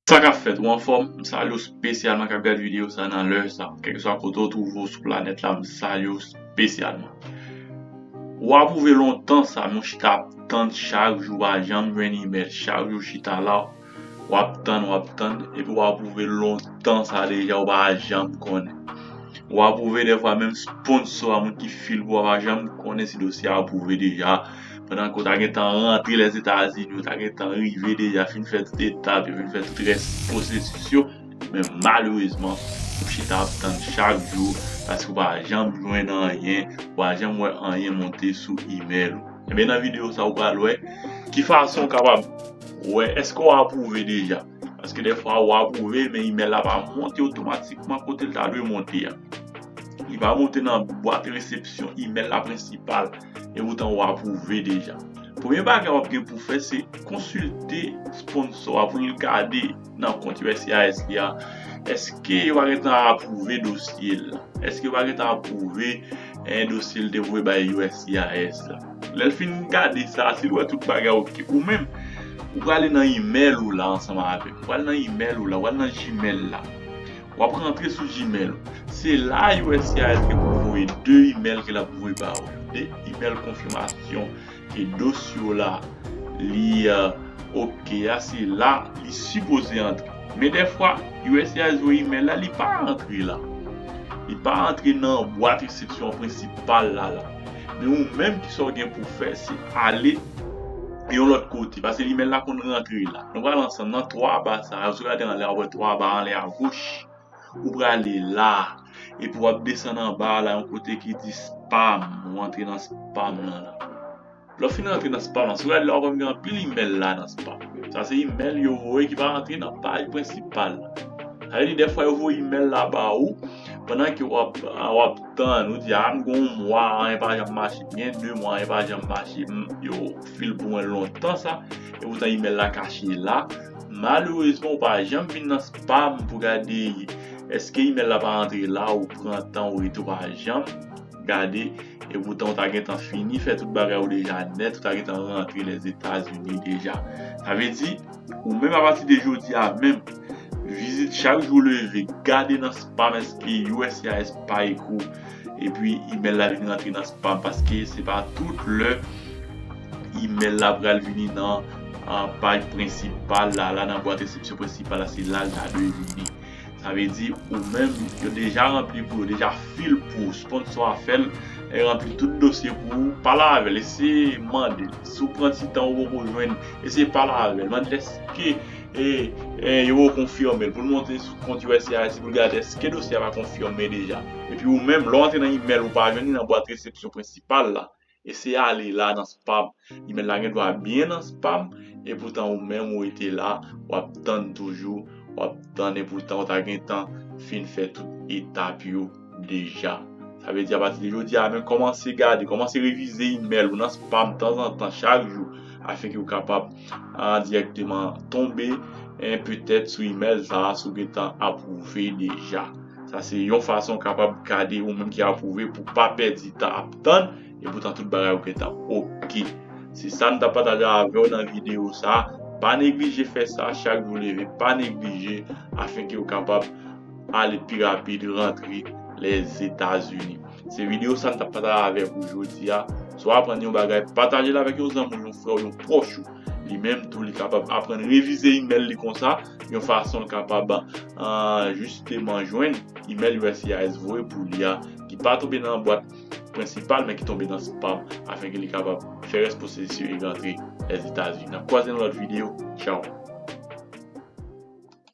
Sa kap fèt ou anfòm m salye w spesyalman kap gad video sa nan lè sa kèlkeswa kote ou twouve w sou planèt la m salye w spesyalman ou apwouve lontan sa nou chita ap tann chak jou pa janm jwenn email chak jou chita la wap tann wap tann epi w apwouve lontan sa deja ou pa janm konnen ou apwouve dèfwa menm sponsò a moun ki fil pou ou a pa janm konnen si dosye a apwouve deja. pandan ke w ta gentan rantre Lèzetazini, w ta gentan rive deja fin fè tout etap yo, fin fè tout rès pwosesis yo, men malerezman ou chita ap tann chak jou paske w pa janm jwenn anyen, ou pa janm wè anyen monte sou imèl ou. Enben nan videyo sa ou pral wè ki fason ou kapab wè èske w apwouve deja, paske dèfwa ou apwouve men imèl la pa monte otomatikman kote l ta dwe monte a. Li pa monte nan bwat resepsyon imèl la prensipal. epoutan ou apwouve deja. Premye bagay wap gen pou fè se konsilte sponsò a pou nou gade nan kont uscis li a eske yo pa gentan apwouve dosye l lan, eske yo pa gentan apwouve dosye l te voye bay uscis la. Lè l fin gade sa a, si l wè tout bagay ok, ou menm ou prale nan email ou la ansanm avè l, ou prale nan email ou la, ou prale nan gmail la. Wap rantre sou Gmail ou. Se la uscis gen pou voye 2 email ke lap voye ba ou yo. 2 email konfimasyon ke dosye w la li ok a se la li sipoze antre. Men dèfwa uscis voye email la li pa antre la. Li pa antre nan bwat resepsyon prensipal la la. Men ou menm ki sa w gen pou fè se ale yon lòt kote. Pase email la konn rantre la. Nou pral ansanm nan 3 ba sa yo. Si w gade anlè w ap wè 3 ba anlè agoch. Ou prale la. Epi w ap desann anba a la yon kote ki di spam. Ou antre nan spam lan la. Lè w fin antre nan spam lan, si w gade la w ap wè m gen anpil imèl la nan spam. Sa se imèl yo voye ki pa rantre nan paj prensipal la. Sa vle di dèfwa yo voye imèl la ba ou pandan ke w ap tann. Ou di a m gen yon mwa anyen pa janm mache. M gen 2 mwa anyen pa janm mache. fil pou mwen lontan sa e poutan email la kache la malerezman ou pa janm vin nan spam pou gade eske email la pa antre la ou pran tan ou rete ou pa janm gade e poutan ou ta gentan fini fè tout bagay ou deja nèt ou ta gentan rantre lèzetazini deja sa vle di. Ou menm apati de jodi a menm, vizit chak jou ou leve, gade nan spam èske uscis pa ekri w epi email la vin rantre nan spam paske se pa tout lè email la pral vini nan paj prensipal la, la nan bwat resepsyon prensipal la se la l ta dwe vini. Sa vle di ou menm yo deja ranpli pou yo deja fil pou sponsò a fèl e ranpli tout dosye pou ou pale avèl eseye mandel si ou pran ti tan ou poko jwenn eseye pale avèl mandel eske yo poko konfimel poul monte sou kont usaid poul gade eske dosye a pa konfime deja epi ou menm lè ou antre nan imèl ou pa jwenn li nan bwat resepsyon prensipal la Eseye ale la nan spam. Email la gen dwa byen nan spam epoutan ou menm ou rete la wap tann toujou, wap tann epoutan ou ta gentan fin fè tout etap yo deja. Sa vle di apati de jodi a menm kòmanse gade, kòmanse revize email ou nan spam tanzantan chak jou afen ou kapab dirèkteman tonbe petèt sou email sa a si w gentan apwouve deja. Sa se yon fason w kapab gade yon moun ki apwouve pou w pa pèdi tan ap tann epoutan tout bagay yo gentan ok. Se sa m t ap pataje avè w nan videyo sa. Pa neglije fè sa chak jou w leve, pa neglije afenke w kapab ale pi rapid rantre Lèzetazini. Se videyo sa m t ap pataje avèk ou jodi a. Si w aprann yon bagay, pataje l avèk yon zanmi w, yon frè w, yon pwòch ou. Li menm tou li kapab aprann revize imèl li konsa yon fason l kapab jisteman jwenn imèl uscis voye pou li a ki pa tonbe nan bwat prensipal men ki tonbe nan spam afin ke li kapab fè rès pwosesis yo e rantre Lèzetazini. N ap kwaze nan lòt videyo. Tchaw!